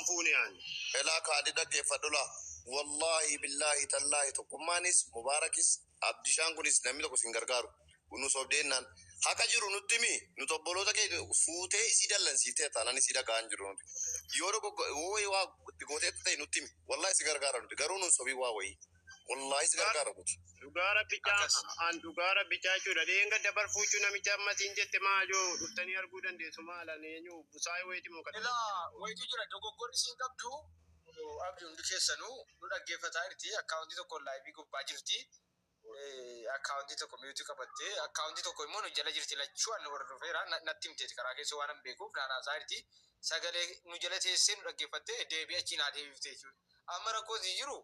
fuune aan elaa kaadhi dhaggeeffadhula wallaahi billaahi tallaahi tokkummaanis mubaarakis abdishaan kunis namni tokko isin gargaaru nu sobdeennaan haqa jiru nutti himi nuti obboloota keenya fuutee isii dallansiiftee taanaan isii dhaga'aa hin jirru nuti yoo dogoggoo wayii waa itti gooteetta ta'e nutti himi wallaahi si gargaara nuti garuu nun sobii waa wayii Wallaahi si gargaara guuti. Dhugaa rabbichaa Akkas. an dhugaa rabbichaa jechuudha dheenga dabar fuuchuu namicha amma siin jette maa yoo dhuftanii arguu dandeessu maala eenyu busaayee wayiiti moo kana Ilaa wayitu jira dogoggorri siin qabdu abdi hundi keessanuu nu dhaggeeffataa jirti akkaawuntii tokkoon laayivii gubbaa jirti Eh, akkaawuntii tokko miyuutii qabattee akkaawuntii tokko immoo nu jala jirti lachuu annu hordofeera Na- natti himteeti karaa keessa waan hin beekuuf naan haasaa jirti sagalee nu jala teessee nu dhaggeeffattee deebii achiin haa deebiftee jechuudha amma rakkoon siin jiru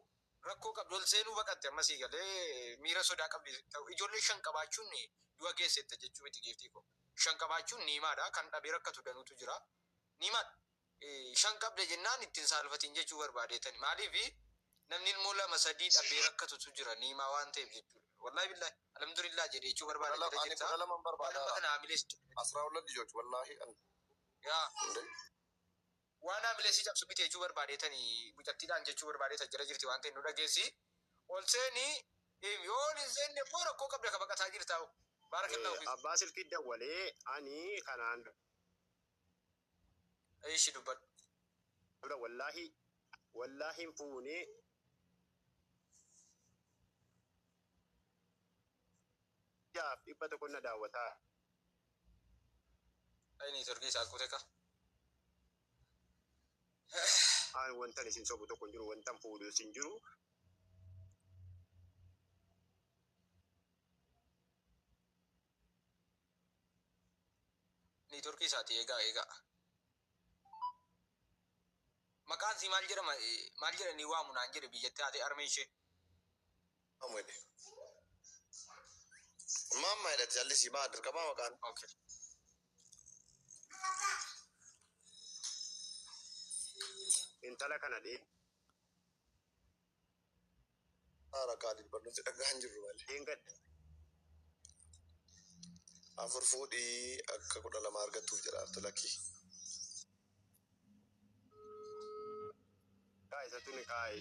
Rakkoo qabdi ol seenuu baqatte amma sii galee miira sodaa qabdi ijoollee shan qabaachuun du'a geessetta jechuu miti giiftii koo shan qabaachuun niimaadha kan dhabee rakkatu danuutu jira niimaadha shan qabda jennaan itti hin saalfatiin jechuu barbaadeetani maaliif namni ilmoo lama sadii dhabee rakkatutu jira niimaa waan ta'eef jechuudha wallahi billahi alhamdulillah jedhe jechuu barbaade Kudha lama ani kudha lama hin barbaada. kana hamilees Asraa hulla lijoch wallahi an yaa hundee. Waan haamilee sii cabsu miti jechuu barbaadeetani mucattiidhaan jechuu barbaadeeta jala jirti waan ta'e nu dhageessi ol seeni himi yoo ol hin seenne immoo rakkoo qabda ka baqataa jirtaa hoo baarakallahu fiikum. Abbaa silkii dawwalee ani kanaan. Eshi dubbadhu. dura wallaahi wallaahi hin fuune. jaaf dhibba tokko na daawwataa. Ay ni turkii isaa akkute ka. Aan wantan isin sobu tokko hin jiru wantan fuudhu isin jiru. Ni turkii isaati eegaa eegaa. Maqaan sii maal jedhama maal jedhanii waamu naan jedhe biyyatti haatee armee ishee. Maamwede. Maamma jedhati callisii maa dirqamaa maqaan. Okay. Intala kana dhee. Haara kaalid barnooti dhagaa hin jirru malee. Dheengadda. Afur fuudhii akka kudha lama argattuuf jedha arti lakkii. Kaa isatu ni kaa'e.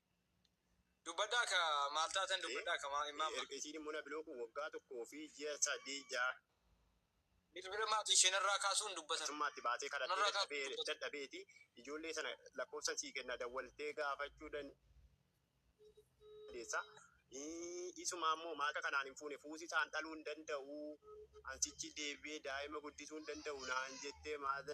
Dubbadhaa ka maal taatan dubbadhaa ka maa immaamma. Erga isiin immoo na bilookuun waggaa tokkoo fi ji'a sadii ja'a. Bilbila maatii ishee narraa kaasuun dubbatan. Atummaatti baatee kadhattee dadhabeeti ijoollee sana lakkoofsan sii kenna dawwaltee gaafachuu dandeessa. Isumaa immoo maaqa kanaan hin fuune fuusisaan dhaluu hin danda'u an sichi deebi'ee daa'ima guddisuu hin danda'u naan jettee maata.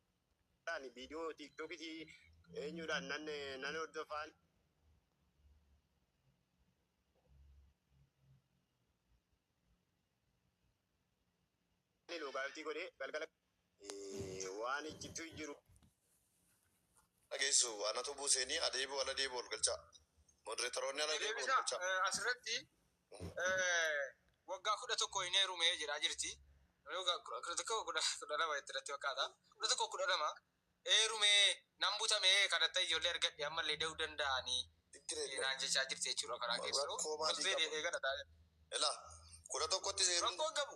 Ani viidiyoo tiiktookitii eenyuudhaan nan nan hordofaan ani loogaawutii godhee galgala eh, waan iccituu jiru dhageessu anatu buuseenii adeebi'u ala deebi'u ol galchaa. Modereetaroonni ala deebi'u ol galchaa. Asirratti Waggaa kudha tokko hin heerume jedhaa jirti. Kudha tokko kudha lama itti irratti fakkaata. Kudha tokko kudha lama heerume nan butame kadhatta ijoollee argadhe ammallee da'uu danda'anii naan jechaa jirti jechuudha karaa keessoo. Rakkoo maatiif qabu. Eegala taa'ee. Ilaa kudha tokkotti seeruu. Rakkoon qabu.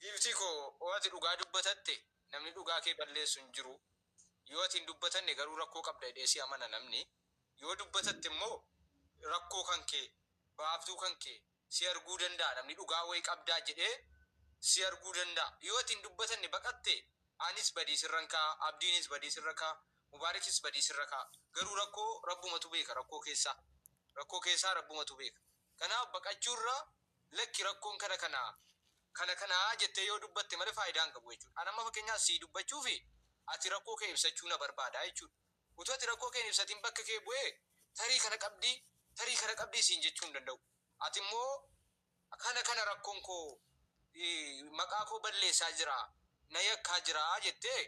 Giiftii koo oo ati dhugaa dubbatatte namni dhugaa kee balleessu hin jiru yoo ati hin dubbatanne garuu rakkoo qabda jedhee si amana namni yoo dubbatatte immoo rakkoo kan kee baaftuu kan kee si arguu danda'a namni dhugaa wayii qabdaa jedhee si arguu danda'a yoo ati hin dubbatanne baqatte anis badii sirran ka'a abdiinis badii sirra ka'a mubaarikis badii sirra ka'a garuu rakkoo rabbumatu beeka rakkoo keessaa rakkoo keessaa rabbumatu beeka kanaaf baqachuu irra Lakki rakkoon kana kana kana kana jettee yoo dubbatte malee faayidaa hin qabu jechuudha. Ani amma fakkeenyaaf sii dubbachuufi ati rakkoo kee ibsachuu na barbaada jechuudha. Utuu ati rakkoo kee hin ibsatiin bakka kee bu'ee tarii kana qabdi tarii kana qabdi siin jechuu hin danda'u. Ati immoo kana kana rakkoon koo maqaa koo balleessaa jira na yakkaa jira jettee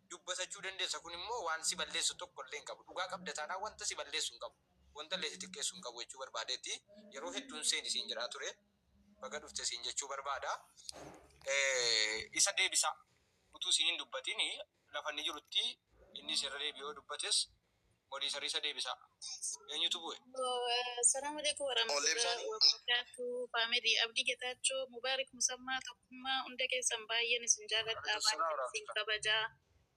dubbatachuu dandeessa kun immoo waan si balleessu tokko illee hin qabu. Dhugaa qabda taanaan wanta si balleessu hin qabu. Wantallee si xiqqeessu hin qabu jechuu barbaadeetti. Yeroo hedduun seeni siin jedhaa ture. Baga dhufte siin jechuu barbaada. Isa deebisa utuu siin hin dubbatiin lafa inni jirutti innis irra deebi'ee yoo dubbates moniitarri isa deebisa. Eenyutu bu'e? Assalamu alaikum warahmatullahi wabarakatuh family Abdii Getaachoo Mubaarik Musammaa Tokkummaa hunda keessan baay'een isin jaaladha baay'een isin kabaja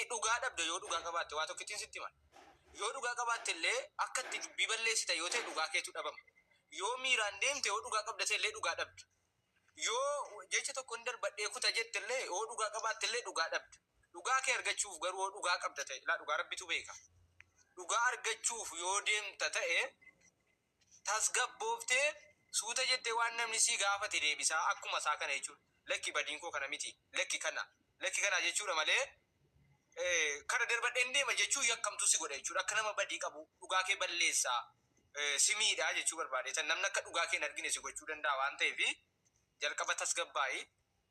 i dhugaa dhabda yoo dhugaa qabaatte waa tokkittin sitti himan yoo dhugaa qabaatte illee akka itti dubbii balleessita yoo ta'e dhugaa keetu dhabama yoo miiraan deemte yoo dhugaa qabda ta'e illee dhugaa dhabda yoo jecha tokkon darbadhee kuta jette illee yoo dhugaa qabaatte illee dhugaa dhabda dhugaa kee argachuuf garuu yoo dhugaa qabda ta'e ilaa dhugaa rabbitu beeka dhugaa argachuuf yoo deemta ta'e tasgabbooftee suuta jettee waan namni si gaafate deebisaa akkuma isaa kana jechuudha. Lakki badiin koo kana miti, lakki kana, lakki kana jechuudha malee kana darbadheen deema jechuun yakkamtuu si godha jechuudha. Akka nama badii qabuu, dhugaa kee balleessa, si miidha jechuu barbaadeeta. Namni akka dhugaa kee hin argine si gochuu danda'a waan ta'eef jalqaba tasgabbaa'i.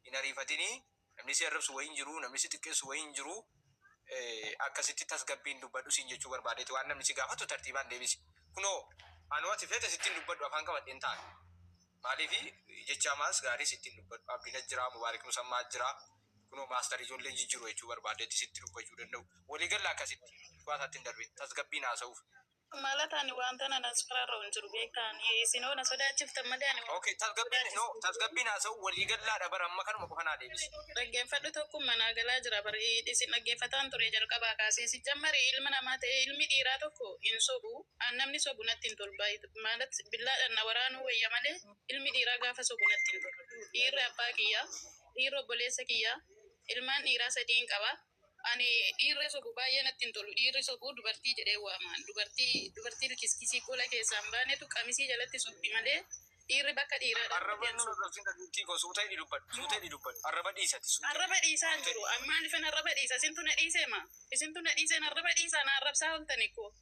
hin ariifatini namni si arrabsu wayii hin jiru namni si xiqqeessu wayii hin jiru akkasitti tasgabbiin dubbadhu siin jechuu barbaadeeti waan namni si gaafatu tartiibaan deebisi kunoo anoo ati feete sitti hin dubbadhu afaan qabadhe hin taane maaliifi jecha amaas gaarii sitti hin dubbadhu abdiin as jira mubaarik musammaa as jira kunoo maastar ijoolleen jijjiru jechuu barbaadeeti sitti dubbachuu danda'u walii galla akkasitti dhugaa isaatti hin darbin tasgabbiin haasa'uuf Malata ani wanta nan asfararra hin jiru beekta ani isin hoo na sodaachiftan malee ani wanta Okay, tasgabbiin no, tasgabbiin haasa'u walii gallaadha bara amma kanuma qofa naa deebisi. dhaggeeffadhu tokkum manaa galaa jira bar isin dhaggeeffataan ture jalqabaa kaasee sijjammari ilma namaa ta'ee ilmi dhiiraa tokko hin sobu an namni sobu natti hin tolu baay maalat billaadhan na waraanuu wayya malee ilmi dhiiraa gaafa sobu natti hin tolu dhiirri abbaa kiyya dhiirri obboleessa kiyya ilmaan dhiiraa sadiin qaba Ani dhiirri sobu baay'ee natti hin tolu. Dhiirri sobu dubartii jedhee waama. Dubartii dubartii likiskisii gola keessaa hin baanetu qamisii jalatti sobdi malee dhiirri bakka dhiiraa dhaqu Arraba hin sobu. nurratti hin dhagiftii koo suuta hidhi dubbadhu suuta hidhi dubbadhu arraba dhiisi ati suuta Arraba dhiisaa hin suuta jiru. hidhi. An maalifan arraba dhiisa? Isintu na dhiisee ma? Isintu na dhiiseen arraba dhiisaa na arrabsaa ooltani koo.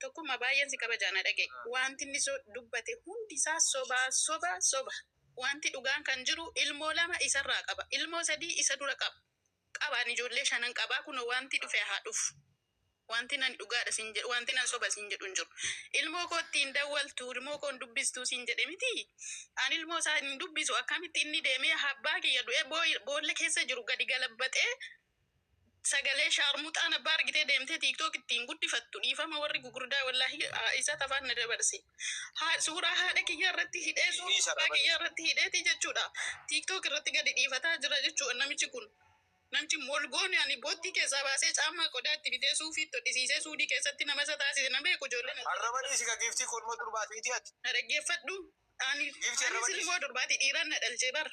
Tokkumma baay'een si kabajaa na dhaga'i. Waanti inni dubbate hundi isaa soba, soba, soba. Waanti dhugaan kan jiru ilmoo lama isa irraa qaba. Ilmoo sadii isa dura qaba. Qaba ani ijoollee shanan qaba kunoo waanti dhufe haa dhufu. Waantin ani dhugaadha siin jedhu waantin an soba siin jedhu hin jiru. Ilmoo kootti hin dawwaltu ilmoo koo hin dubbistuu siin jedhe mitii? Ani ilmoo isaa hin dubbisu akkamitti inni deemee abbaa kiyya du'ee boolla keessa jiru gadi galabbaxee Sagalee shaarmuxaan abbaa argitee deemtee tiktok ittiin guddifattu dhiifama warri gugurdaa wallahi isat afaan na dabarse haa suuraa haadha kiyyaa irratti hidhee suuraa abbaa kiyyaa irratti hidheeti jechuudha tiktok irratti gadi dhiifataa jira jechuudha namichi kun namchi molgoon ani boottii keessaa baasee caammaa qodaa itti bitee suufii itti hodhisiisee suudii keessatti nama isa taasise na beeku ijoolleen Arraba dhiisi ka giiftii korma durbaati miti ati. na dhaggeeffadhu ani Giiftii ani arraba dhiisi. silmoo durbaati dhiiraan na dhalchee bara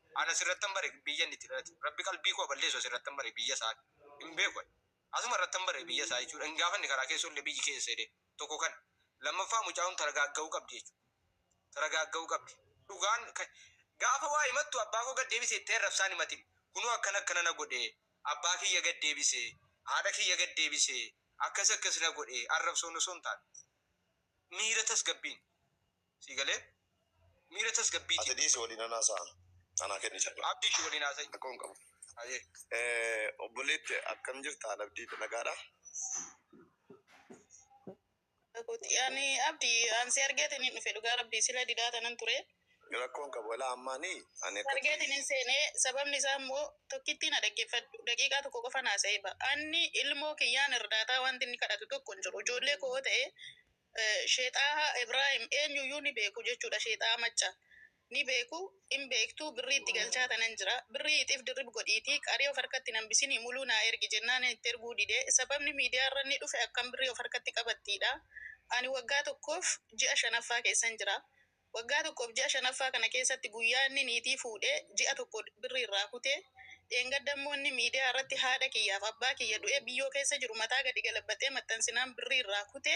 An asirrattan bare biyya inni itti dhalate. Rabbi qalbii koo haa balleessu asirrattan bare biyya isaa ani. Hin beeku ani. Asuma irrattan bare biyya isaa jechuudha. Hin gaafanne karaa keessa ollee biyyi kee eessa jedheen. Tokko kana. Lammaffaa mucaa kun taragaagga'uu qabdi jechuudha. Taragaagga'uu qabdi. Dhugaan gaafa waa himattu abbaa koo gad deebisi jettee arrabsaan himatin. Kunoo akkana akkana na godhe, abbaa kiyya gad deebise, haadha kiyya gad deebise, akkas akkas na godhe arrabsoon osoo hin taane miira tasgabbiin Sii galee? Miira Ati tasgabbiitiin. dhiisi waliin nan haasa'a. Anaa kenni carraa. Abdi ishii waliin haasa'i. Rakkoon qabu. Hayyee. Eh, obboleetti akkam jirta? Haal Abdii nagaadha? Kooti. Ani Abdi an si argeetiin hin dhufe dhugaa rabbii sila didaa tanan ture. Rakkoon qabu walaa ammaani ani akkati. Argeetiin hin seenee sababni isaa immoo tokkittii na dhaggeeffadhu daqiiqaa tokko qofan haasa'ee ba'a. Anni ilmoo kiyyaan irdaataa wanti inni kadhatu tokko hin jiru. Ijoollee koo yoo ta'e Sheexaaha Ibrahim eenyuyyuu ni beeku jechuudha sheexaa macca ni beeku in beektuu birrii itti galchaa tanan jira birrii ixif dirrib godhiitii qarii of harkatti hin hambisinii muluu naa ergi jennaanin itti erguu dide sababni miidiyaa irra inni dhufe akkam birrii of harkatti qabattiidha ani waggaa tokkoof ji'a shanaffaa keessan jira Waggaa tokkoof ji'a shanaffaa kana keessatti guyyaa inni niitii fuudhee ji'a tokko birrii irraa kute, dheengadda immoo inni miidiyaa irratti haadha kiyyaaf abbaa kiyya du'ee biyyoo keessa jiru mataa gadi galabaxee maxxansinaan birrii irraa kute,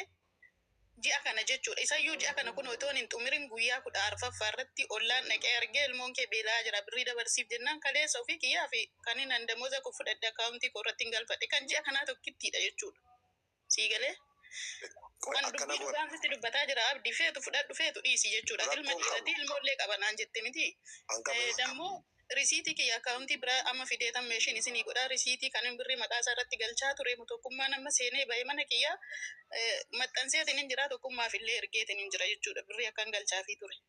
ji'a kana jechuudha. Isayyuu ji'a kana kunoo itoon hin xumiriin guyyaa kudha arfaffaa irratti ollaan dhaqee argee ilmoon kee beela'aa jira birrii dabarsiif jennaan kaleessa ofii kiyyaaf kanin an damoza koo fudhadhe akkaawuntii koo irrattin galfadhe kan ji'a kanaa tokkittiidha jechuudha. Sii galee? Qoy An akkana dubbii goona. dhugaan sitti dubbataa jira Abdi feetu fudhadhu feetu dhiisi jechuudha. Ilma Rakkoon dhiiratii qabu. ilmoo illee qaba naan jette miti. An qabu Eh, hin qabu. Dammoo risiitii kiyya akkaawuntii biraa amma fidee tan meeshiin isinii godhaa risiitii kanin birrii maqaa isaa irratti galchaa ture mu tokkummaan amma seenee bahe mana kiyya eh, maxxanseetiin hin jira tokkummaaf illee ergeetiin hin jira jechuudha birrii akkan galchaafii ture.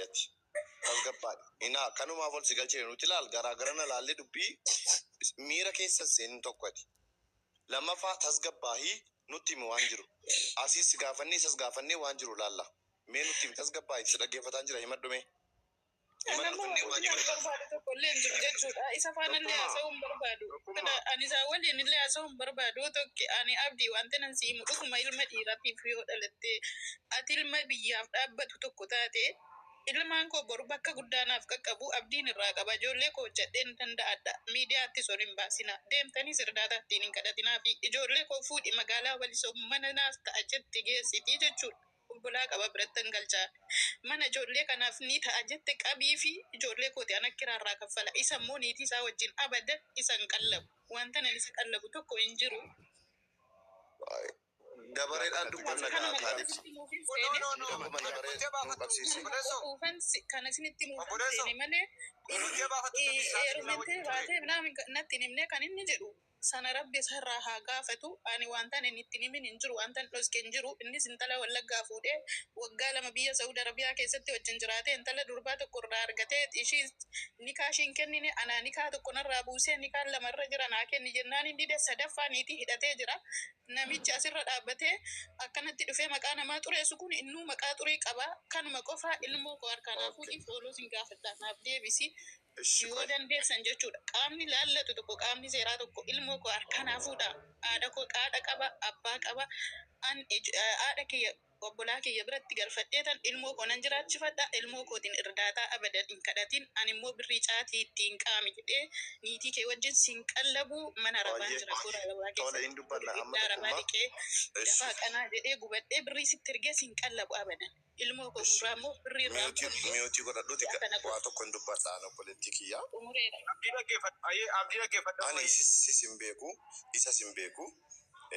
yati tasgabbaadhi inaa kanumaaf ol si galchine nuti laal garaagarana laallee dubbii miira keessa hin seenin tokko ati lammaffaa tasgabbaahii nutti himi waan jiru asiis si gaafannee isas gaafannee waan jiru laalla mee nutti himi tasgabbaahiti si dhaggeeffataan jira himadhu mee Namni wajjin hin barbaadu tokko illee hin jiru jechuudha. Isa faana illee haasa'uu hin barbaadu. Kana ani isaa waliin illee haasa'uu hin barbaadu. Tokki ani abdii wanti nan si himu dhuguma ilma dhiiraatiif yoo dhalatte ati ilma biyyaaf dhaabbatu tokko taate ilmaan koo boru bakka guddaa naaf qaqqabu abdiin irraa qaba. Ijoollee koo hojjedheen danda'adha. Miidiyaattis ol hin baasina. Deemtaniis irdaataa ittiin hin kadhatinaa fi ijoollee koo fuudhi magaalaa walisoo mana naaf ta'a jette geessiti jechuudha. Obbolaa qaba birattan galcha. Mana ijoollee kanaaf ni ta'a jette qabiifi ijoollee kooti ana kiraa irraa kaffala. Isa immoo niitii isaa wajjin abadan isa hin qallabu. Wantan ani isa qallabu tokko hin jiru. Dabareedhaan dubbanna kaa Kaalid. Akkuma dabaree nu qabsiisi. Quufan si- kan isinitti himuufan seene malee inni heerumtee baatee natti hin himne kan inni jedhu Sana rabbi isarraa haa gaafatu. Ani wantan inni itti hin himin hin jiru. Wantan dhoske hin jiru. Innis intala wallaggaa fuudhee waggaa lama biyya sa'uud arabiyaa keessatti wajjin jiraatee intala durbaa tokko irraa argatee ishiis nikaa ishii hin kennine anaa nikaa tokko narraa buusee nikaan lama irra jira naa kenni jennaan hin dide sadaffaa niitii hidhatee jira namichi asirra dhaabbatee akkanatti dhufee maqaa namaa xureessu kun innuu maqaa xurii qaba kanuma qofaa ilmoo koo harkaa naa fuudhii fooloo sin gaafadha naaf deebisi Eshi Yoo dandeessan jechuudha. Qaamni laallatu tokko, qaamni seeraa tokko ilmoo koo harkaa naa fuudhaa, haadha koo haadha qaba, abbaa qaba, an ij- eh, haadha kiyya obbolaa kiyya biratti galfadheetan ilmoo koo nan jiraachifadha, ilmoo kootiin irdaataa abadan hin kadhatin, ani immoo birrii caatii itti hin qaami jedhee niitii kee wajjin si hin qallabu, mana arabaan Baay'ee jira, toora arabaa tola keessa hin dubbanna amma ibidda arabaa tokkummaa. dhiqee Eshi. dafaa qanaa jedhee gubadhee birrii sitti ergee si hin qallabu abadan. Ilmoo koo gurraa immoo birrii irraa hin Miyuutii kunnee. miyuutii godhadhuuti Si'a kana waa tokko hin dubbadha an obboleettii kiyya. xumureera. Abdii dhaggeeffadhu. Hayyee Abdii dhaggeeffadhu Ani ammayyee. isis sis hin beeku isas hin beeku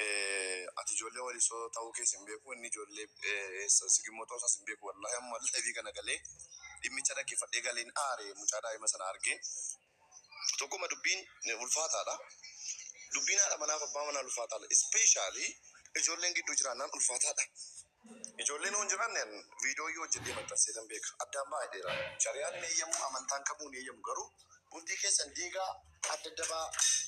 eh, ati ijoollee walisoo ta'uu kees hin beeku inni ijoollee eh, eessa sigimmoo ta'uu isaas hin beeku wallahi amma live kana galee dhimmicha dhaggeeffadhee galeen aare mucaa daa'ima sana argee Tokkumma dubbiin ulfaataadha. Dubbiin haadha manaaf abbaa manaa ulfaataadha. Especially ijoolleen gidduu jiraannaan ulfaataadha. Ijoolleen yoo hin jiraanne an viidiyoo yoo hojjedhee maxxansee tan beeka. Addaan baay'eera. Shariyaan hin eeyyamu, amantaan kamuu hin eeyyamu garuu bultii keessan diigaa adda adda ba'aa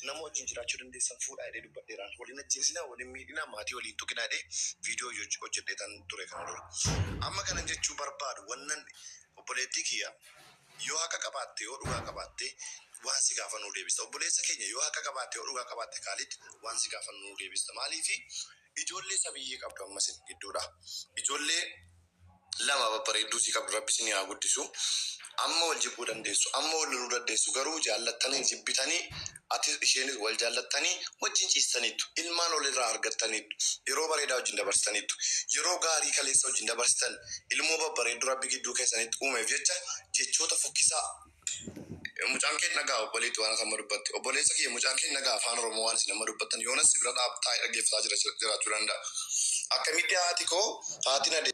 nama wajjin jiraachuu dandeessan fuudhaa jedhee dubbadheeraan. Wal hin ajjeesinaa, wal hin miidhinaa, maatii walii hin tuqinaa jedhee viidiyoo hoj hojjedhee tan ture kana dura. Amma kanan jechuu barbaadu wannan obboleettii kiyya Yoo haqa qabaatte yoo dhugaa qabaatte waan si gaafannu nu deebista obboleessa keenya yoo haqa qabaatte yoo dhugaa qabaatte kaalid waan si gaafannu nu deebista maaliif ijoollee sabiyyee qabdu amma isin gidduudha ijoollee lama babbareedduu isii qabdu rabbi isinii haa guddisu amma wal jibbuu dandeessu amma wal loluu dandeessu garuu jaallattanii jibbitanii Atis isheenis wal jaallattanii wajjin ciistaniittu. Ilmaan wal irraa argattaniittu. Yeroo bareedaa wajjin dabarsitaniittu. Yeroo gaarii kaleessa wajjin dabarsitan, ilmoo babbareedduu Rabbi gidduu keessanitti uumeef jecha jechoota fokkisaa. Mucaan kee hin dhaga'aa? Obboleetti waan ati amma dubbatte. Obboleessa kiyya, mucaan kee hin dhaga'aa Afaan Oromoo waan isin amma dubbattan? Yoonas si bira dhaab, taa'ee dhaggeeffataa jira jiraachuu danda'a. Akkamitti haati koo, haati Nadee.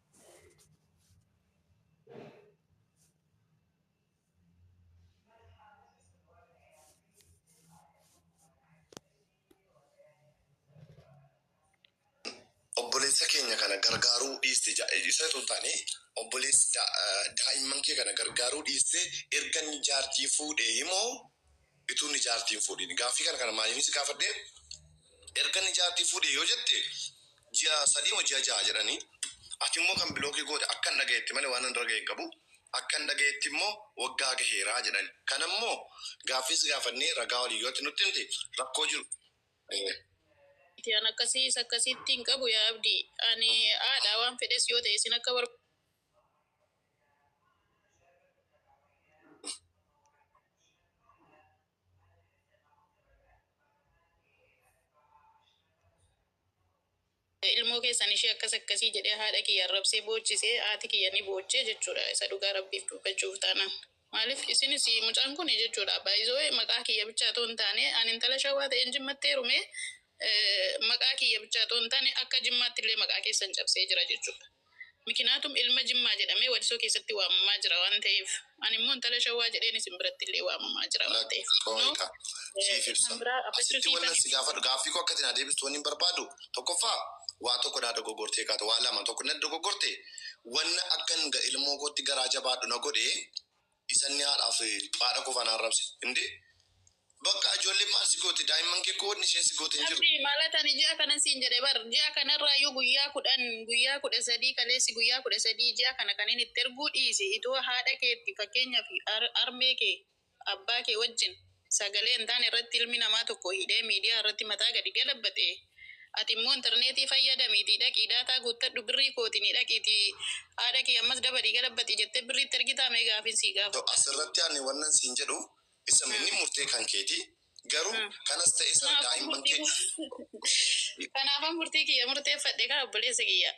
obboleessa keenya kana gargaaruu dhiiste ja- isa osoo hin taane obboleessa da- eh, daa'imman kee kana gargaaruu dhiiste erga inni jaartii fuudhee himoo Ituu inni jaartii hin fuudhiin. Gaaffii kana kana maaliifin si gaafadhe erga inni jaartii fuudhe yoo jette ji'a sadii moo ji'a ja'a jedhanii ati immoo kan bilookii goote akkan dhagayetti malee waanan irra gahe hin qabu akkan dhagayetti immoo waggaa gaheera jedhani kana immoo gaaffii si gaafannee ragaa waliin yoo ati nutti himte rakkoo jiru miti an akkasii isa akkasiitti hin qabu yaa abdii ani haadha waan fedhes yoo ta'e isin akka bar ilmoo keessan ishee akkas akkasii jedhee haadha kiyya arrabsee boochise haati kiyya ni boochee jechuudha isa dhugaa rabbiif dubbachuuf taanaan maaliif isinis mucaan kun jechuudha baay'isoo maqaa kiyya bichaa toon taane an intala shawaa ta'een jimmatti heerume maqaa kiyya bichaa toon taane akka jimmaatti illee maqaa keessan cabsee jira jechuudha. Mikinaatum ilma Jimmaa jedhamee Walisoo keessatti waamamaa jira waan ta'eef. Ani immoo intala Shawwaa jedheen isin biratti illee waamamaa jira waan Lakki ta'eef. Kunoo qooyita siif kan ibsa. biraa gaafachuu Asitti sii wannan si tahe. gaafadhu gaaffii koo akka ati naa deebistu wannin barbaadu tokkoffaa waa tokko naa dogoggortee kaata waa lama tokko natti dogoggorte wanna akkan ilmoo kootti garaa jabaadhu na godhe Isanni haadhaa fi baadha qofa na arrabse indee Bakka ijoolleen maal si goote daa'imman kee koo wanni isheen si goote hin jiru. Abdi maalat ani ji'a kanan siin jedhe bar ji'a kanarraayyuu guyyaa kudhan guyyaa kudha sadii kaleessi guyyaa kudha sadii ji'a kana kanin itti erguu dhiise itoo haadha keetti fakkeenyaaf harmee kee abbaa kee wajjin Sagalee hin taane irratti ilmi namaa tokko hidhee miidiyaa irratti mataa gadi galabbate, ati immoo interneetii fayyadamiitii dhaqii daataa guuttadhu birrii kootiini dhaqiitii haa dhaqii ammas dabalii galabbati jettee birrii itti ergitaa mee gaafiin sii gaafadha. As irratti ani wannan siin jedhu isam inni murtee kan keeti garuu kanas ta'e sana daa'imman kee. Kanaafan murtii kiyya murteeffadhe kaa obboleessa kiyya.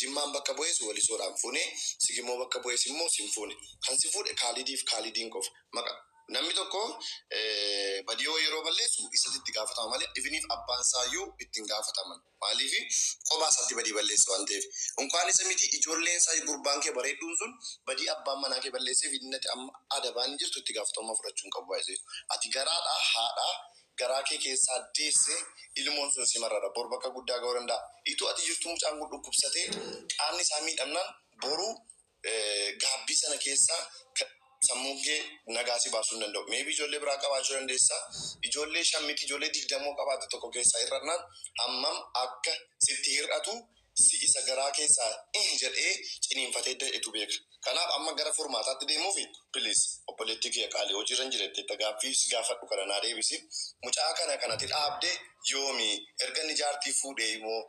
Jimmaan bakka bu'es Walisoodhaan fuune, Sigimoo bakka bu'es immoo sin fuune. Kan si fuudhe Kaalidiif Kaalidiin qofa. Maqa. Namni tokko Badioo yeroo balleessu isatu itti gaafatama malee even if abbaan isaa iyyuu itti hin gaafataman. Maaliif qophaa isaatti badii balleesse waan ta'eef. Unkaan isa miti ijoolleen isaa iyyuu gurbaan kee bareedduun sun badii abbaan manaa kee balleesseef inni ati amma adabaan jirtu itti gaafatamummaa fudhachuu hin qabu baay'isee. Ati garaadhaa haadhaa garaa kee keessaa deesse ilmoon sun si marara bor bakka guddaa ga'uu danda'a ituu ati jirtuu mucaan kun dhukkubsatee qaamni isaa miidhamnaan boru gaabbii sana keessaa kan sammuun kee nagaa si baasuu hin danda'u maybe ijoollee biraa qabaachuu dandeessa ijoollee shan miti ijoollee digdamoo qabaatte tokko keessaa hir'annaan hammam akka sitti hir'atu si isa garaa keessaa ih jedhee ciniinfatee dahetu beeka. Kanaaf amma gara furmaataatti deemuufi? Please obboleettii kiyya qaalii hojiirra hin jiretteetta gaaffii si gaafadhu kana naa deebisi. Mucaa kana kan ati dhaabde yoomi? Erga inni jaartii fuudhee moo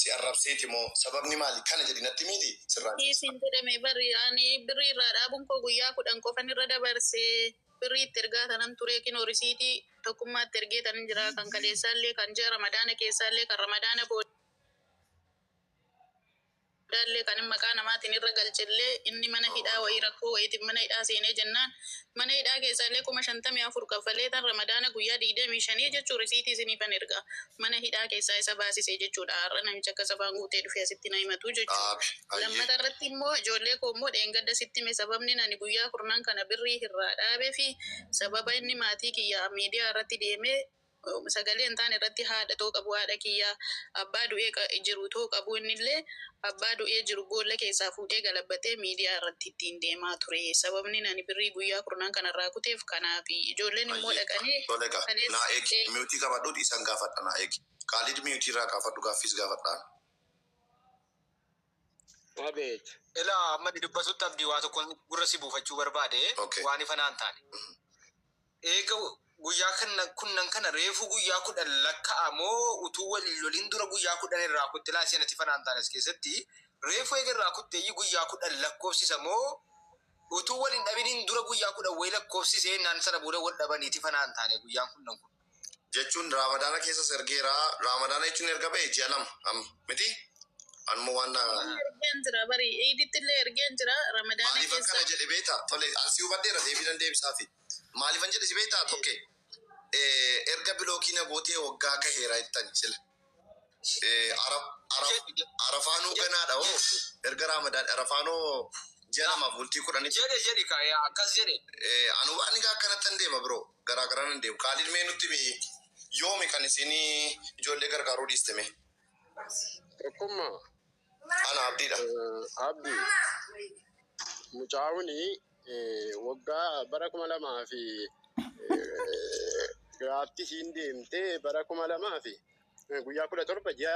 si arrabseeti moo? Sababni maali? Kana jedhi natti himiiti sirraan si ibsa. Dhiisi hin jedhame bar ani birrii irraa dhaabuun koo guyyaa kudhan qofan irra dabarse. Birrii itti ergaa tanan ture kinoo risiitii tokkummaatti ergeetanin jira kan kaleessaallee kan ji'a ramadaana keessaallee kan ramadaana booda. Daallee kan maqaa namaatiin irra galchellee inni mana hidhaa wayii rakkoo wayiitiif mana hidhaa seenee jennaan mana hidhaa keessaallee kuma shantamii afur kaffalee tan ramadaana guyyaa digdamii shanii jechuu risiitii isiniifan erga mana hidhaa keessaa isa baasise jechuudha har'a namichi akkas afaan guutee dhufee asitti na himatu jechuudha lammata irratti immoo ijoollee koo immoo dheengadda sitti hime sababni ani guyyaa kurnan kana birrii irraa dhaabeefi sababa inni maatii kiyya miidiyaa irratti deemee Sagalee hin taane irratti haadha too qabu haadha kiyya, abbaa du'ee jiru too qabu innillee abbaa du'ee jiru boolla keessaa fuudhee galabbatee miidiyaa irratti ittiin deemaa ture. Sababnin ani birrii guyyaa kurnan kana irraa kuteef kanaafi. Ijoolleen immoo dhaqanii kaleessa. Abeet. Ilaa amma ani dubbatutti Abdii waa tokkon gurra si buufachuu barbaade waan ifa naa hin taane. Eega guyyaa kanna kunnan kana reefuu guyyaa kudhan lakka'a moo utuu wal hin lolin dura guyyaa kudhan irraa kutte laa seenati fanaantaanes keessatti reefuu eega irraa kutteeyyi guyyaa kudhan lakkoofsisa moo utuu wal hin dhabinin dura guyyaa kudhan wayii lakkoofsise ennaan sana booda wal dhabaniiti fanaantaane guyyaan kunnan kun jechuun raamadaana keessas ergeera raamadaana jechuun erga ba'e ji'a lama amma miti anuma waan na Iidillee ergeen jira bari iidittillee ergeen jira ramadaana maaliif keessa akkana jedhe beekta tole asii hubadheera deebii nan deebisaafii Maalifan jedhe si beektaa tokke? Eh, Erga bilookii na gootee waggaa gaheera jettani sila. Eh, ara- ara- Arafaanuu ganaadha hoo erga raamadaan arafaanoo ji'a lamaaf bultii kudhanitti Jedhe jedhi ka yaa akkas jedhe. Eh, anu waan egaa akkanattan deema biroo garaa garaa nan deema kaalid mee nutti himi yoomi kan isin ijoollee gargaaruu dhiiste mee Tokkummaa Ana abdiidha. Abdi mucaawuni waggaa bara kuma lamaa fi giraafti siin deemte bara kuma lamaa fi guyyaa kudha torba ji'a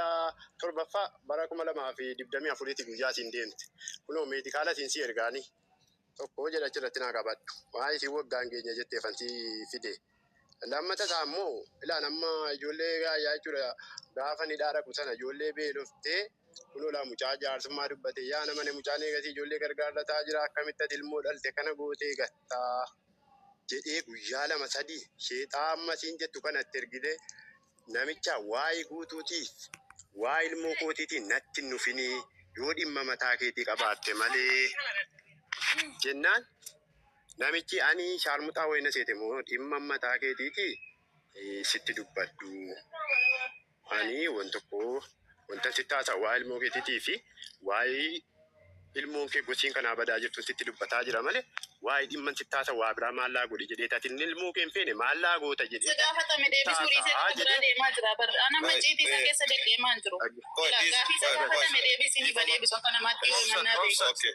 torbaffaa bara kuma lamaa fi digdamii afuriiti guyyaa siin deemte. Kunoo meedikaala siin si ergaani tokko jedha achirratti naa qabadhu. Maa isin waggaan keenya jettee kan si fide. Lammata isaa immoo ilaan amma ijoollee gaayyaa jechuudha gaafa ni dhaaraku sana ijoollee beeloftee kunoo laa mucaa jaarsummaa dubbate yaa nama ne mucaan eegasii ijoollee gargaarrataa jira akkamitti ati ilmoo dhalte kana gootee gattaa jedhee guyyaa lama sadii sheexaa amma siin jettu kana itti ergitee namicha waa'ee guutuutii waa ilmoo kootiitiin natti hin nufinii yoo dhimma mataa keetii qabaatte malee jennaan Namichii anii shaarmuxaa wayii na seete moo dhimma mataa keetiiti sitti dubbadhu anii wan tokko wantan sitti haasa waa ilmoo keetiitii fi waa'ee ilmoon kee gosiin kanaa badaa jirtu sitti dubbataa jira male waa'ee dhimman sitti haasa waa biraa maallaa godhi jedhee tatin ilmoo kee hin feene maallaa goota jedhee Si gaafatame deebisuu dhiisee Taataa gara biraa jedhee. deemaa jira bar. Ana amma ciitii isaa keessa deddeemaa hin jiru. Qoy, Ilaa, dhiisi, gaafii isa qoy, qoy. gaafatame deebisi ni badeebisu akka namaatti yoo himannaa beeku. Okay.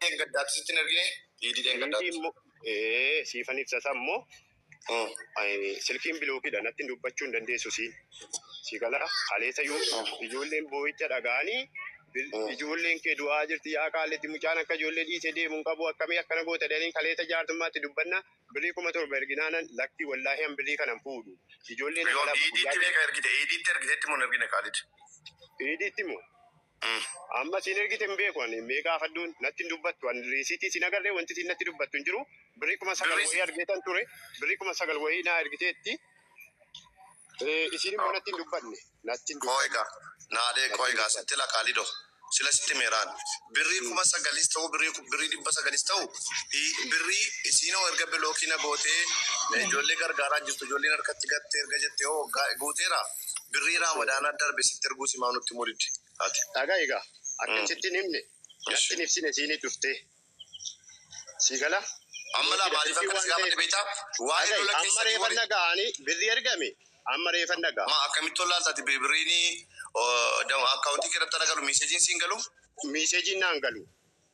Dheengaddaatti sitti hin ergine? Liidii dheengaddaatti. Liidii immoo ee siifan ibsa isaa immoo silkiin bilookidha natti dubbachuu hin dandeessu siin si gala kaleessa ijoolleen boo'icha dhaga'anii ijoolleen kee du'aa jirti yaa kaalletti mucaan akka ijoollee dhiisee deemu hin qabu akkamii akkana goota jedhanii kaleessa jaartummaatti dubbanna birii kuma torba erginaanan lakkii wallaahi an birii kanan fuudhu ijoolleen Yoon iidiitti beeka ergite iidiitti ergiteetti moo hin ergine kaalid? iidiitti moo Amma siin ergite hin beeku ani mee gaafadhu natti hin dubbattu ani riisiitii siin agarree wanti siin natti dubbattu hin jiru birrii kuma sagal Birrii- wayii argeetan ture birrii kuma sagal wayii naa ergiteetti Eh, isiin immoo natti hin dubbanne natti hin dubbanne Koiga. Naadee koiga sitti lakaalido. Sila sitti meeraan. Birrii kuma sagalis ta'u birrii ku- birrii dhibba sagalis ta'u i- birrii isiinoo erga bilookii na gootee ijoollee gargaaraa jirtu ijoolleen harkatti gattee erga jettee hoo ga- guuteera. Birrii Raamadaanaa darbe sitti erguu simaa nutti himuu didde ati. Dhagahi gaa akka sitti hin himne natti hin ibsine siini dhuftee. Sii gala? Amma laa maaliif akka si gaafadhe beektaa? Waa'ee lola keessanii warri. Amma reefan dhagaha ani birrii ergame amma reefan dhagaha. Maa akkamitti wallaalta ati birriin akkaawuntii kee irratti ana galu miiseejiin siin galuu? Miiseejiin naan galu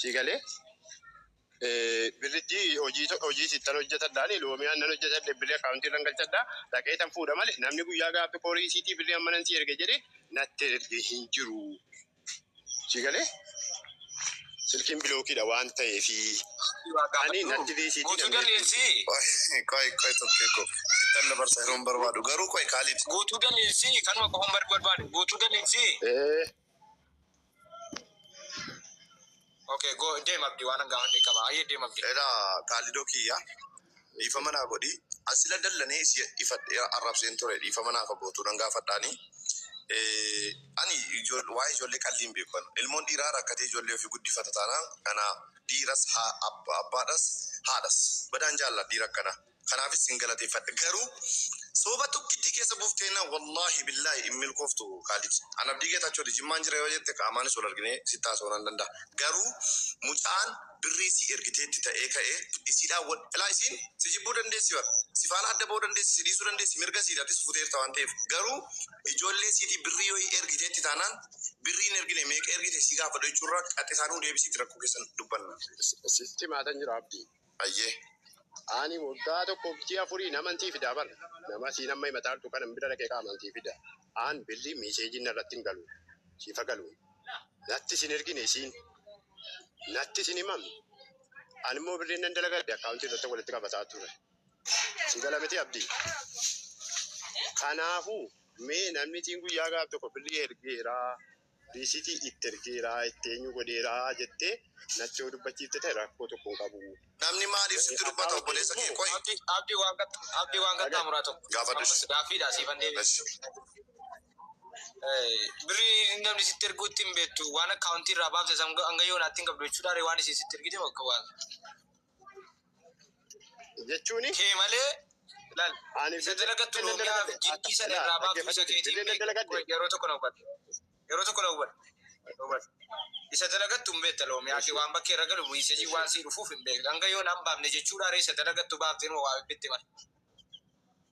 Sii galee birritti hojii hojii sittan hojjetadha ani loomiyaan nan hojjetadhe birri akkaawuntii irran galchadha dhaqee tan fuudha male namni guyyaa gaaffi koorii siitii birri amma nan si erge jedhe natti erge hin jiru sii galee silkiin bilookiidha waan ta'eefi ani natti deesiitii Guutuu namni dandeessii Qoy qoy tokkee koo sittan dabarsa yeroon barbaadu garuu qoy kaalid. guutuu dandeessii kanuma qofan barbaadu guutuu dandeessii. ee Okay, go deem abdi waan hangaa hundee qaba. Ayyee deem abdi. Ela kaalido kiyya dhiifama naa godhi asila dallanee si ifadhe arrabseen ture dhiifama naa fagootuu nan gaafadhaani ani ijool- waa'ee ijoollee qalbii hin beeku ani. ilmoon dhiiraa rakkatee ijoollee ofii guddifata taanaan kana dhiiras haa abba- abbaadhas haadhas badaan jaalladha dhiira akkanaa Kanaafis sin galateeffadha. Garuu Soba tokkittii keessa buufteennaan wallaahi billaahi hin milkooftu Kaalid. An Abdii Geetaachooti. Jimmaan jira yoo jette qaamaanis wal arginee sitti haasa'uu nan danda'a. Garuu mucaan birrii sii ergiteetti ta'ee ka'ee isiidhaan wal ilaa isiin si jibbuu dandeessi bar. Si faana adda ba'uu dandeessi, si dhiisuu dandeessi mirga siiti atis futeerta waan ta'eef. Garuu ijoollee siitii birrii wayii ergiteetti taanaan birrii hin ergine meeqa ergite si gaafadhu jechuurra qaxxisaa nuu deebisiiti rakkoo keessan dubbanna. Sitti himaatan jira Abdii. Ayyee. Ani waggaa tokkoof ji'a afuriin amantii fidaa bar nama siin amma himataartu kanan bira dhaqee kaa amantii fida aan billi miiseejiin narratti hin galu siifa galu nattis hin ergine isiin nattis hin himamne an immoo birriin nan dalagadhe akkaawuntii irratti walitti qabataa ture si gala miti abdii kanaafuu mee namni tiin guyyaa gaaf tokko birrii ergeeraa Dhiisitii itti ergeera, itti eenyu godheera jettee natti yoo dubbachiifte ta'e rakkoo tokko hin qabu. Namni maaliif sitti dubbata obboleessa kee qoyi. Abdi Abdi waan qaxxa Abdi waan qaxxaa muraa tokko Gaafadhu ammas ishee. gaaffiidha siifan deebisa. Eshi. Eh, birrii namni sitti erguu ittiin beektu waan akkaawuntii irraa baafte san hanga yoonaatti hin qabdu jechuudha ree waan isin sitti ergite bakka waan jechuun kee malee laal ani isa dalagattu loomiyaa fi jiddii sana irraa baaftu isa keetiin beeku yeroo tokko na hubadhu yeroo tokko na hubadhu hubadhu isa dalagattu hin beekta loomiyaa kee waan bakkee irra galu miisejii waan sii dhufuuf hin beekta hanga yoo naan baafne jechuudha ree isa dalagattu baaftee numa waa bibbitti mala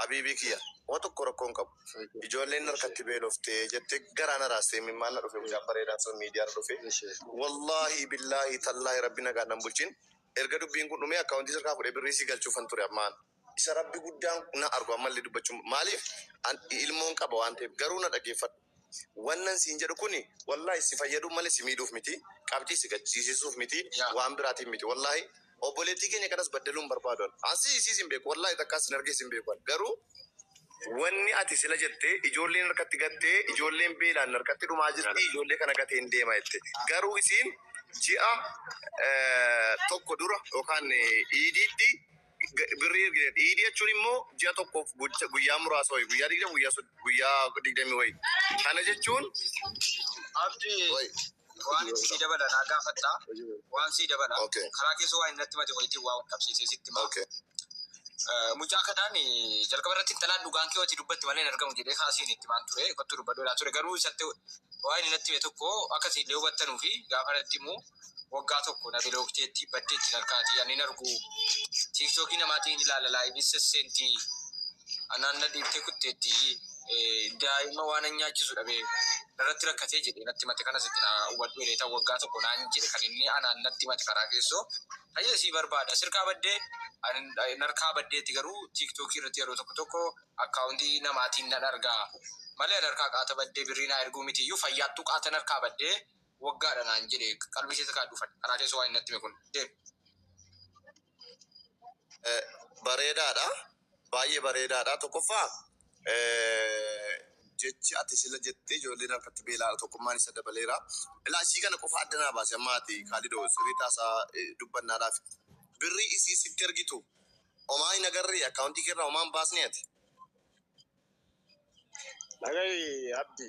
Habiibii kiyya homa tokko rakkoo hin qabu ijoolleen narkatti beelofte jettee garaa na raaste imimmaan na dhufe mucaan bareedaan sun miidiyaarra dhufe wallaahii billaahii tallaahi rabbi nagaan nan bulchin erga dubbiin kun dhumee akkaawuntii isarkaa fudhee birrii isii galchuufan ture amma an isa rabbi guddaan na argu ammallee dubbachuun maaliif an ilmoon qaba waan ta'eef garuu na dhageeffadhu Wannan siin jedhu kuni wallahi si fayyaduuf malee si miidhuuf miti, qabxii si gachisiisuuf miti, waan biraatiin miti wallahi. Obboleettii keenya kanas baddaluu hin barbaadu an. An si isiis hin beeku wallahi takkaa sin argees hin beeku an. Garuu wanni ati sila jette ijoolleen harkatti gattee ijoolleen beelaan harkatti dhumaa jirti ijoollee kana gateen deema jette. Garuu isiin ji'a tokko dura yookaan iidiitti. birrii ergite jedhe. Iidii jechuun immoo ji'a tokkoof guyya- guyyaa muraasa wayi guyyaa digdama guyyaa sod- guyyaa digdamii wayi. Kana jechuun Abdi waan itti sii dabala naa gaafatta waan sii dabala Okay. karaa keessa waa innatti mate wayitiin waa qabsiisee sitti hima. okay. Eh, Mucaa kanaan eh, jalqaba irratti intalaan dhugaan kee wati dubbatti malee hin argamu jedhee kaasiin itti maan ture kottu dubbadhu jedhaa ture garuu isatti waan innatti hime tokko akka siin hubattanuu fi gaafa irratti immoo waggaa tokko na bilookteetti baddeetti narkaati ani hin argu tiiktookii namaatiin ilaala laayivii sesseenti anaan na dhiibtee kutteetti eh, daa'ima waan an nyaachisu dhabe narratti rakkatee jedhe natti mate kanas itti na hubadhu jedhee ta'u waggaa tokko naan jedhe kan inni anaan natti mate karaa keessoo tajaajila sii barbaada sirkaa baddee ani narkaa baddeetti garuu tiiktookii irratti yeroo tokko tokko akkaawuntii namaatiin nan argaa malee narkaa qaata baddee birrii naa erguu miti iyyuu fayyaattuu qaata narkaa baddee waggaadha naan jedhe qalbii keessa kaadhu fadha karaa keessa waan natti hime kun deem. Bareedaadha baay'ee bareedaadha tokkoffaa jechi ati sila jette ijoolleen harkatti beelaadha tokkummaan isa dabaleera ilaa isii kana qofa adda naa baase amma ati kaalidoo sirrii taasaa dubbannaadhaaf birrii isii sitti ergitu omaa hin agarree akkaawuntii keerraa omaan baasne ati. Dhagahi abdi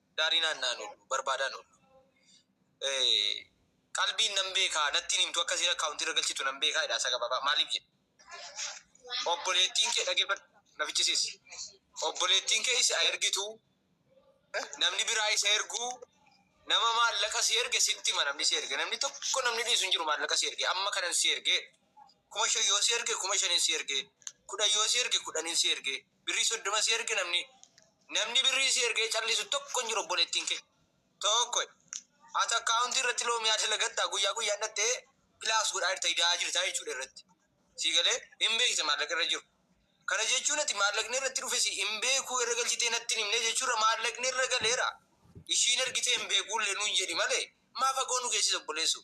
Daarii naanna'an oolu, barbaadaan oolu. Qalbiin nan beekaa, natti hin himtu, akka isiin account irra galchitu nan beekaa jedha haasaa gabaabaa. Maaliif jedhe? Obboleettiin kee dhaggeeffadhu, na fichisiis. Obboleettiin kee isa ergitu, namni biraa isa ergu, nama maallaqa si erge sitti hima namni si erge. Namni tokko namni dhiisu hin jiru maallaqa si erge. Amma kanan si erge. Kuma shan yoo si erge, kuma shanin si erge. Kudhan yoo si erge, kudhanin si erge. Birrii soddoma si erge namni namni birrii si ergee callisu tokko hin jiru obboleettiin kee. Tokko ati akkaawuntii irratti loomiyaa dalagattaa guyyaa guyyaan dhattee pilaas godhaa jirta idaa jirta jechuudha irratti. Sii galee hin beekte maallaqa irra jiru. Kana jechuun ati maallaqni irratti dhufe si hin beekuu irra galchitee natti hin himne jechuudha maallaqni irra galeera. Ishiin ergitee hin beekuullee nuun jedhi malee maa fagoo nu geessisa obboleessoo.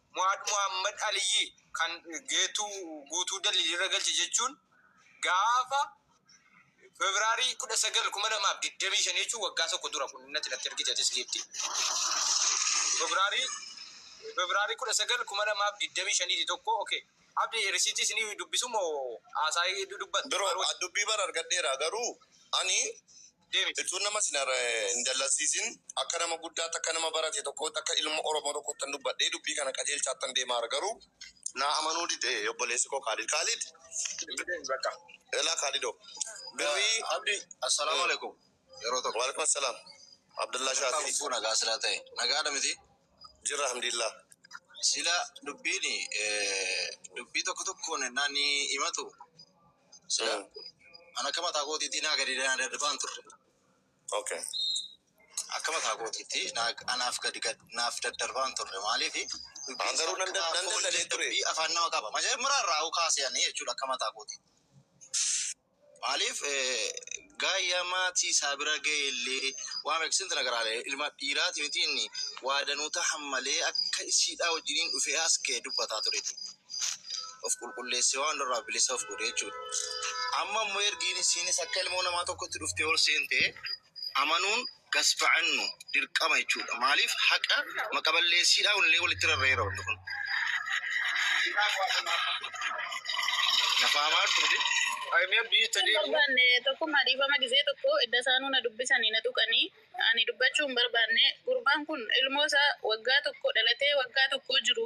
Muhaad Muhammad Aliyyi kan Geetuu Guutuu Daliil irra galche jechuun gaafa February 19, 2025 jechuun waggaa tokko dura kun innati natti ergite atis Giifti. February February 19, 2025 ti tokko okay. Abdi risiitii isinii dubbisu moo haasaa dubbattu? Bro, dubbii bar argadheera garuu ani Deemi jechuun nama isin hin dallansiisin. Akka nama guddaatti, akka nama barate tokkootti, akka ilma Oromoo tokkoottan dubbadhee dubbii kana qajeelchaattan deemaara. Garuu naa amanuu dide obboleessi koo Kaalid. Kaalid! Bakka. Elaa Kaalidoo. Birrii. Abdi. Assalaamu alaikum. Yeroo tokko. Waalaikum assalaam. Abdallaa Akkam Shaafii. lubbuu nagaa silaa ta'e. Nagaadha miti? Jirra alhamdulillah. Sila dubbiin dubbii tokko tokkoon ennaa ni himatu Seeran kun an akka mataa kootiitti naa gadi naa dadhabaan turre. Okay. Akka mataa kootiitti naa anaaf gadi gad naaf daddarbaan turre maaliifi An garuu nan dad- nan dadhabee ture. dubbii afaan nama qaba majaajmara irraa kaasee ani jechuudha akka mataa kootiitti maaliif eh, Gaayyaa maatii isaa bira ga'ellee waan rakkiseef inti nagaraalee ilma dhiiraati miti inni waa danuu tahan malee akka isiidhaa wajjiniin dhufee as ga'e dubbataa tureetu of qulqulleessee waan hundarraa bilisa of godhe jechuudha. Amma immoo ergiin isiinis akka ilmoo namaa tokkotti dhuftee ol seente amanuun gasba'annu dirqama jechuudha. Maaliif haqa maqa balleessiidhaa illee walitti rarra'eera wanni kun. Nafaa maartu miti. Ayimiyaa biyyi itti deemu. barbaanne tokkummaa dhiifama gisee tokko edda isaanuu na dubbisanii na tuqanii ani dubbachuu hin barbaanne gurbaan kun ilmoo isaa waggaa tokko dhalatee waggaa tokkoo jiru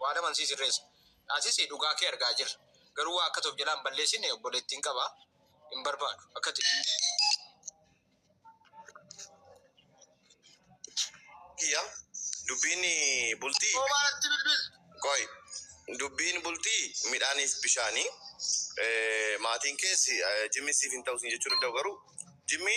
Waa laman sii sirreessa. Atis dhugaa kee argaa jirra. Garuu waa akkati of jalaa hin balleessine obboleettiin qaba. Hin barbaadu. Akkati. Kiyya dubbiin bultii. Somaa natti bilbiltu. Qoy dubbiin bultii midhaaniif bishaani. Maatiin kees jimmi siif hin ta'u siin jechuu danda'u garuu jimmi.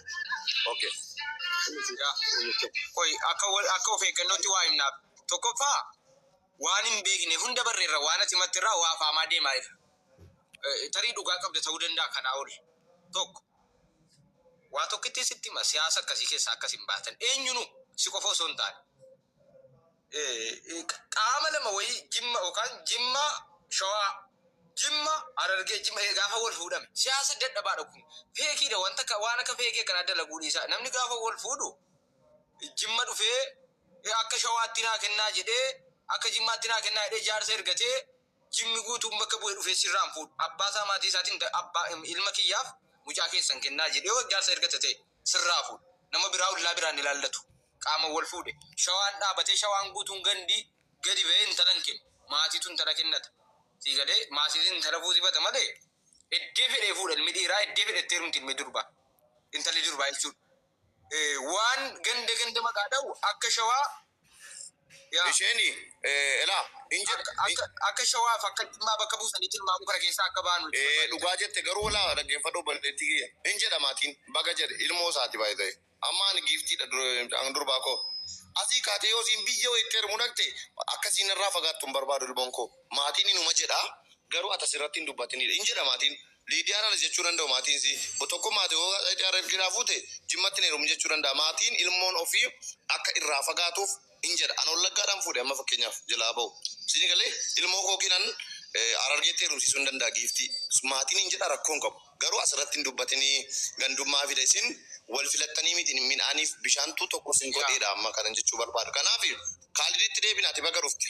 Okay. Inni siidhaa inni tokko. Qoy akka wal akka of eeggannootti waa himnaaf. Tokkoffaa waan hin beekne hunda barreerra waan ati matti irraa waa faamaa deemaa irra. Eh, Tarii dhugaa qabda ta'uu danda'a kanaa ol. Tokko. Waa tokkittii sitti hima siyaasa akkasii keessaa akkas hin baatan. Eenyunu si qofa osoo hin taane. qaama lama wayii jimma yookaan jimma shawaa jimma arargee jimma ee gaafa wal fuudhame siyaasa dadhabaadha kun feekiidha wanta akka waan akka feekii akkanaa dalaguu dhiisaa namni gaafa wal fuudhu jimma dhufee akka shawaatti naa kennaa jedhee akka jimmaatti naa kennaa jedhee jaarsa ergatee Jimmi guutuun bakka bu'e dhufee sirraa hin fuudhu. Abbaa isaa maatii isaatiin da, abba, ilma kiyyaaf mucaa keessan kennaa jedhee hoo jaarsa erga tatee sirraa fuudha. Nama biraa ollaa biraan ilaallatu. Qaaman wal fuudhe. Shawaan dhaabatee shawaan guutuun gandi gadi ba'ee intala hin kennu. Maatiitu intala kennata. Sii galee? Maatiitiin intala fuusifata malee eddee fedhee fuudha ilmi dhiiraa eddee fedhetti heerumti ilmi durbaa. Intalli durbaa jechuudha. Waan ganda ganda maqaa dhawu akka shawaa yaa. Isheen elaa hin jedha. Akka shawaa fi akka jimmaa bakka buusanii tilmaamuu kana keessaa akka baanu itti barbaadee jira. Dhugaa jette garuu elaa dhaggeeffadhu obboleettii kiyya. Hin jedha maatiin baga jedhe ilmoo isaati by the way. Amma ani giiftii dha mucaan durbaa koo. Asii kaatee yoo isiin biyya wayiitti heerumuu dhaqxe akka isiin narraa fagaattu hin barbaadu ilmoon koo. Maatiin inuma jedha garuu ati asirratti hin dubbatin hin jedha maatiin. Liidiyaan anis jechuu danda'u maatiin isii bo tokkummaa ti hoogaa qayxee harree fi cidhaa fuute jimmatti hin heerumin jechuu danda'a maatiin ilmoon ofii akka irraa fagaatuuf hin jedha an wallaggaadhaan fuudhe amma fakkeenyaaf jalaa ba'u siini galee ilmoo koo kinan harargeetti heerumsiisuu hin danda'a giiftii maatiin hin jedha rakkoo hin qabu garuu as irratti hin dubbatinii gandummaa fida isin wal filattanii miti midhaaniif bishaantuu tokko isin godheedha amma kanan jechuu barbaadu kanaaf kaaliditti deebina ati baga dhufte.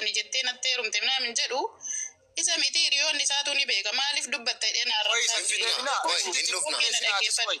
Ani jettee natti heerumte minaamin jedhu isa miti hiriyoonni isaatu ni beeka maaliif dubbatta jedhee na arrabsaa ture. Tokkee na dhaggeeffadhu.